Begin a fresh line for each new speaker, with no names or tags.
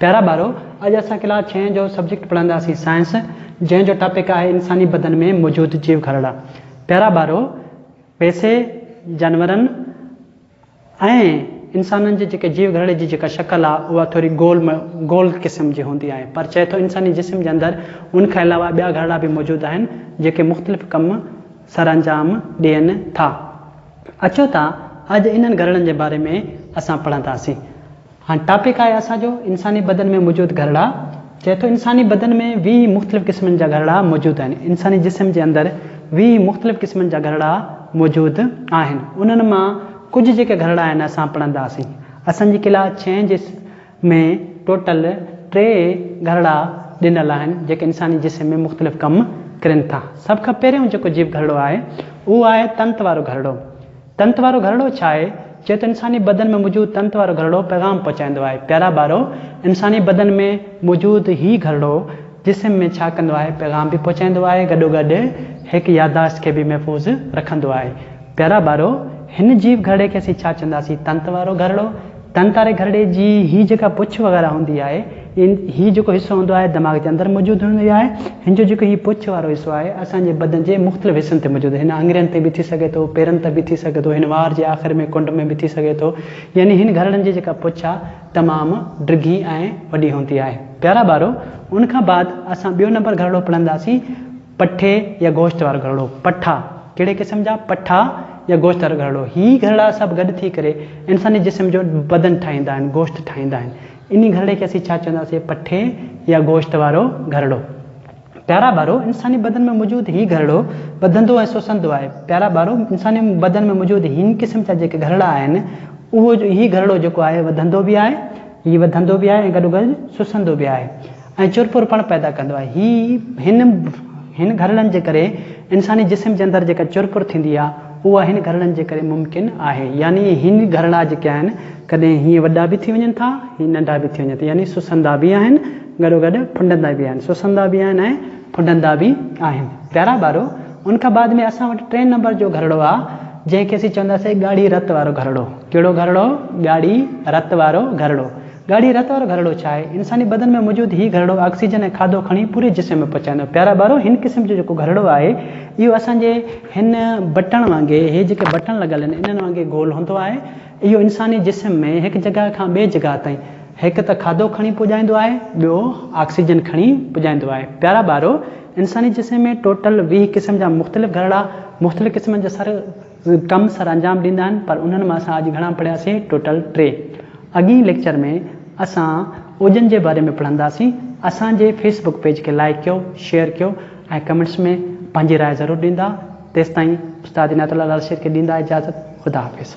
پيارا ٻارو! اڄ اسان ڪلاس ڇهين جو سبجيڪٽ پڙهنداسين سائنس، جنهن جو ٽاپڪ آهي انساني بدن ۾ موجود جيو گهرڙا. پيارا ٻارو! پيسي، جانورن ۽ انسانن جي جيڪي جيو گهرڙي جي جيڪا شڪل آهي اها ٿوري گول گول قسم جي هوندي آهي پر چئي ٿو انساني جسم جي اندر ان کان علاوه ٻيا گهرڙا به موجود آهن جيڪي مختلف ڪم سرانجام ڏين ٿا. اچو ته اڄ انهن گهرڙن جي باري ۾ اسان پڙهنداسين. هاڻ ٽاپڪ آهي اسان جو انساني بدن ۾ موجود گهرڙا چئي ٿو انساني بدن ۾ ويهه مختلف قسمن جا گهرڙا موجود آهن انساني جسم جي اندر ويهه مختلف قسمن جا گهرڙا موجود آهن انهن مان ڪجهه جيڪي گهرڙا آهن اسان پڙهنداسين اسان جي ڪلا ڇهين جي ۾ ٽوٽل ٽي گهرڙا ڏنل آهن جيڪي انساني جسم ۾ مختلف ڪم ڪرين ٿا سڀ کان پهريون جيڪو جيو گهرڙو آهي اهو آهي تنت وارو گهرڙو تنت وارو گهرڙو ڇا آهي؟ چيو ته انساني بدن ۾ موجود تنت وارو گهرڙو پيغام پهچائيندو آهي. پيارا ٻارو! انساني بدن ۾ موجود هي گهرڙو جسم ۾ ڇا ڪندو آهي؟ پيغام به پهچائيندو آهي، گڏوگڏ هڪ يادداشت کي به محفوظ رکندو آهي. پيارا ٻارو! هن جيو گهرڙي کي اسين ڇا چونداسين؟ تنت وارو گهرڙو، ڌن تاري گهرڙي جي هي جيڪا پڇ وغيره هوندي آهي ان هي جيڪو حصو هوندو آهي دماغ جي اندر موجود هوندي آهي هن جو جيڪو هي پڇ وارو حصو آهي اسان جي بدن جي مختلف حصن تي موجود هن آڱرين تي به ٿي سگهي ٿو پيرن تي به ٿي سگهي ٿو هن وار جي آخر ۾ ڪنڊ ۾ به ٿي سگهي ٿو يعني هن گهرڙن جي جيڪا پڇ آهي تمام ڊگهي ۽ وڏي هوندي آهي. پيارا ٻارو ان کان بعد اسان ٻيو نمبر گهرڙو پڙهنداسين. پٺي يا گوشت وارو گهرڙو، پٺا، ڪهڙي قسم جا؟ پٺا يا گوشت وارو گهرڙو، هي گهرڙا سڀ گڏ ٿي ڪري انساني جسم جو بدن ٺاهيندا آهن، گوشت ٺاهيندا آهن. انهي گهرڙي کي اسين ڇا چونداسين؟ پٺي يا گوشت وارو گهرڙو. پيارا ٻارو! انساني بدن ۾ موجود هي گهرڙو ٻڌندو ۽ سوسندو آهي. پيارا ٻارو! انساني بدن ۾ موجود هن قسم جا جيڪي گهرڙا آهن، اهو هي گهرڙو جيڪو آهي وڌندو به آهي، هي وڌندو به آهي ۽ گڏوگڏ سوسندو به آهي. ۽ چرپر پڻ پيدا ڪندو آهي. هي هن هن گهرڙن جي ڪري انساني جسم جي اندر جيڪا چرپر ٿيندي آهي اها هن گهرڙن جي ڪري ممڪن آهي يعني هي گهرڙا جيڪي آهن ڪڏهن هيئن وڏا به ٿي وڃن ٿا هيئن ننڍا به ٿي وڃن ٿا يعني سسندا به آهن گڏو گڏ ڦنڊندا به آهن سسندا به آهن ۽ ڦنڊندا به آهن. پيارا ٻارو ان کان بعد ۾ اسان وٽ ٽئين نمبر جو گهرڙو آهي جنهن کي اسين چونداسين ڳاڙهي رت وارو گهرڙو. ڪهڙو گهرڙو؟ ڳاڙهي رت وارو گهرڙو. ڳاڙهي رت وارو گهرڙو ڇا آهي؟ انساني بدن ۾ موجود هي گهرڙو آڪسيجن ۽ کاڌو کڻي پوري جسم ۾ پهچائيندو. پيارا ٻارو! هن قسم جو جيڪو گهرڙو آهي، اهو اسان جي هن بٽڻ وانگي، هي جيڪي بٽڻ لڳل آهن، انهن وانگي گول هوندو آهي. اهو انساني جسم ۾ هڪ جڳهه کان ٻئي جڳهه تائين، هڪ ته کاڌو کڻي پڄائيندو آهي، ٻيو آڪسيجن کڻي پڄائيندو آهي. پيارا ٻارو! انساني جسم ۾ ٽوٽل ويهه قسم جا مختلف گهرڙا، مختلف قسمن جا سر، ڪم سر انجام ڏيندا آهن پر انهن مان اسان اڄ گهڻا پڙهياسين ٽوٽل ٽي. اڳئين ليڪچر ۾ اسان اوجن جي باري ۾ پڙهنداسين. اسان جي فيس بڪ پيج کي لائيڪ ڪيو، شيئر ڪيو ۽ ڪمينٽس ۾ پنهنجي راء ضرور ڏيندا. تيستائين استاد عنايت الله لالشير کي ڏيندا اجازت. خدا حافظ.